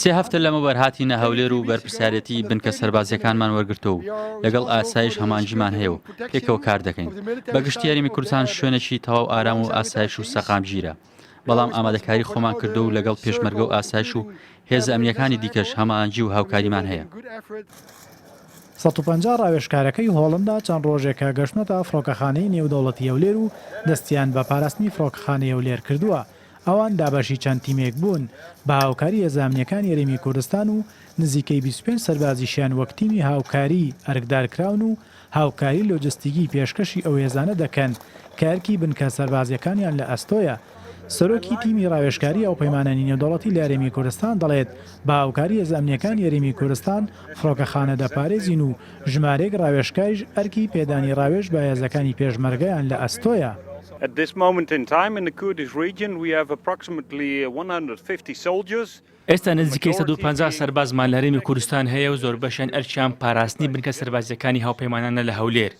سێ هەفتە لەمەوبەر هاتینە هەولێر و بەرپرسیارێتی بنکە سەربازیەکانمان وەرگرتووە و لەگەڵ ئاسایش هەمانجیمان هەیە و پێکەوە کار دەکەین بە گشتی هەرێمی کوردستان شوێنێکی تەواو ئارام و ئاسایش و سەقامگیرە بەڵام ئامادەکاری خۆمان کردو و لەگەڵ پێشمەرگە و ئاسایش و هێزە ئەمنیەکانی دیکەش هەماهەنگی و هاوکاریمان هەیە. سەد و پەنجا ڕاوێژکارەکەی هۆڵندا چەند ڕۆژێکە گەشتنەتە فڕۆکەخانەی نێودەوڵەتی هەولێر و دەستیان بە پاراستنی فڕۆکەخانەی هەولێر کردووە، ئەوان دابەشی چەند تیمێک بوون بە هاوکاری هێزامنیەکانی هەرێمی کوردستان و نزیکەی بیست و پێنج سەربازیشیان وەک تیمی هاوکاری ئەرکدار کراون و هاوکاری لۆجستیکی پێشکەشی ئەو هێزانە دەکەن کە ئەرکی بنکە سەربازیەکانیان لە ئەستۆیە. سەرۆکی تیمی راوێژکاری هاوپەیمانانی نێودەوڵەتی لە هەرێمی کوردستان دەڵێت بە هاوکاری هێزە ئەمنیەکانی هەرێمی کوردستان فڕۆکەخانە دەپارێزین و ژمارێک ڕاوێژکاریش ئەرکی پێدانی ڕاوێژ بە هێزەکانی پێشمەرگەیان لە ئەستۆیە. ئێستا نزیکەی سەد و پەنجا سەربازمان لە هەرێمی کوردستان هەیە و زۆربەشیان ئەرکیان پاراستنی بنکە سەربازییەکانی هاوپەیمانانە لە هەولێر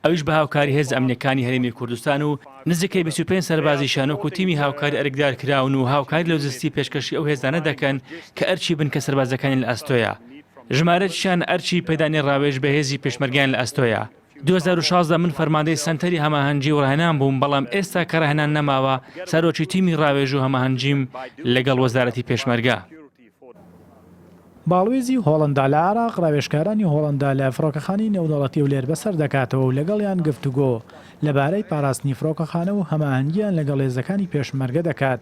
ئەویش بە هاوکاری هێزە ئەمنییەکانی هەرێمی کوردستان و نزیکەی بیست و پێنج سەربازیشیان وەکو تیمی هاوکاری ئەرکدارکراون و هاوکاری لۆجستی پێشکەشی ئەو هێزانە دەکەن کە ئەرکی بنکە سەربازییەکانیان لە ئەستۆیە. ژمارەکیشیان ئەرکی پێدانی ڕاوێژ بە هێزی پێشمەرگەیان لە ئەستۆیە. دوو هەزار و شازدە من فەرماندەی سەنتەری هەماهەنگی و ڕاهێنان بووم، بەڵام ئێستا کە ڕاهێنان نەماوە، سەرۆکی تیمی ڕاوێژ و هەماهەنگیم لەگەڵ وەزارەتی پێشمەرگە. باڵوێزی هۆڵەندا لە عێراق ڕاوێژکارانی هۆڵەندا لە فڕۆکەخانەی نێودەوڵەتی هەولێر بەسەر دەکاتەوە و لەگەڵیان گفتوگۆ لەبارەی پاراستنی فڕۆکەخانە و هەماهەنگییان لەگەڵ هێزەکانی پێشمەرگە دەکات.